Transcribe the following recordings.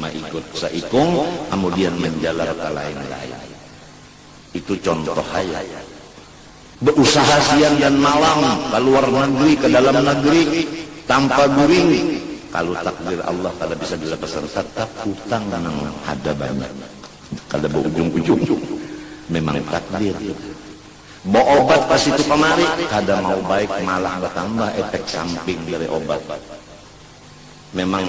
maikut saikung amudian manjalar ka lain-lain. Itu contoh haja. Bausaha siang dan malam ka luar nagri, ka dalam nagri, tanpa guring, kalu takdir Allah kada bisa dilapasan tatap hutang nang ada banyak. Kada baujung-ujung. Memang takdir. Baobat ka situ kamari, kada mau baik, malah batambah epek samping dari obat. Memang.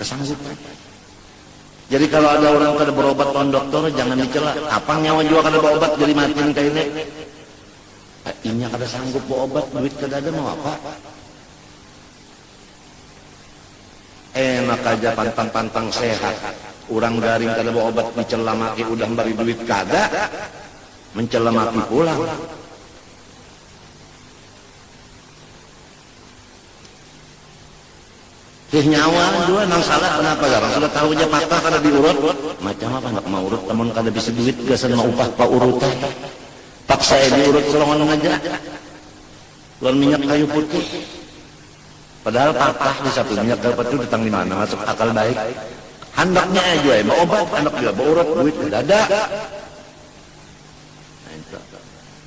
Kesanggupan. Jadi kalau ada orang kada berobat lawan doktor, jangan dicela. Apa nyawa jua kada beobat jadi matin kaini. Ah, inya kada sanggup beobat, duit kada ada mau apa? Enak aja pantang-pantang sehat. Orang garing kada beobat dicela maki udah memberi duit kada. Mencela maki pulang. Sih nyawa jua nang salah kanapa garang sudah tahu ja mata kada diurut. Macam apa handak maurut amun kada bisi duit gasan maupah paurut ai. Paksa ai diurut salongan haja lawan minyak kayu putih. Padahal patah disapu minyak kayu putih datang dimana masuk akal baik. Handaknya ai jua ai baobat handak jua baurut duit kadada.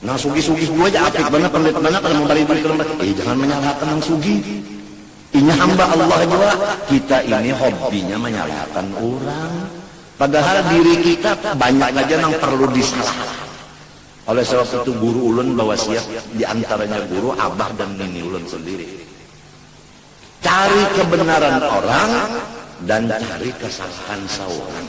Nang sugih-sugih jua ja apik banar, pandit banar kada mambari duit ka lambat. Eh jangan manyalahkan nang sugih. Inya hamba Allah jua. Kita ini hobbinya manyalahkan urang. Padahal diri kita banyak haja nang parlu disalahkan. Oleh sabab itu guru ulun bawasiat, di antaranya guru, abah dan nini ulun sendiri. Cari kebenaran orang dan cari kesalahan saurang.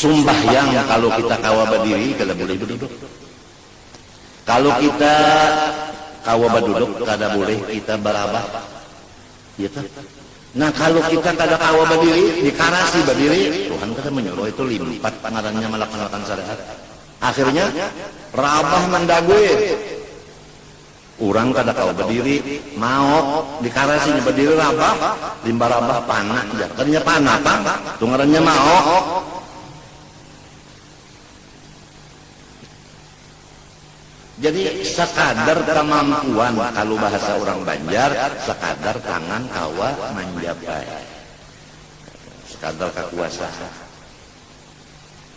Sumbahyang kalu kita kawa badiri kada bulih baduduk. Kalu kita kawa baduduk kada bulih kita barabah. Iya kah? Nah kalu kita kada kawa badiri, dikarasi badiri, Tuhan kada manyuruh itu limpat ngarannya malaksanaakan syariat. Akhirnya rabah mandagui. Urang kada kawa badiri, maok, di karasi nya badiri rabah, limbah rabah pana jar, kada nya pana pang, tu ngarannya maok. Jadi sakadar kamampuan kalu bahasa urang banjar sakadar tangan kawa manjapai, sakadar kakuasaan.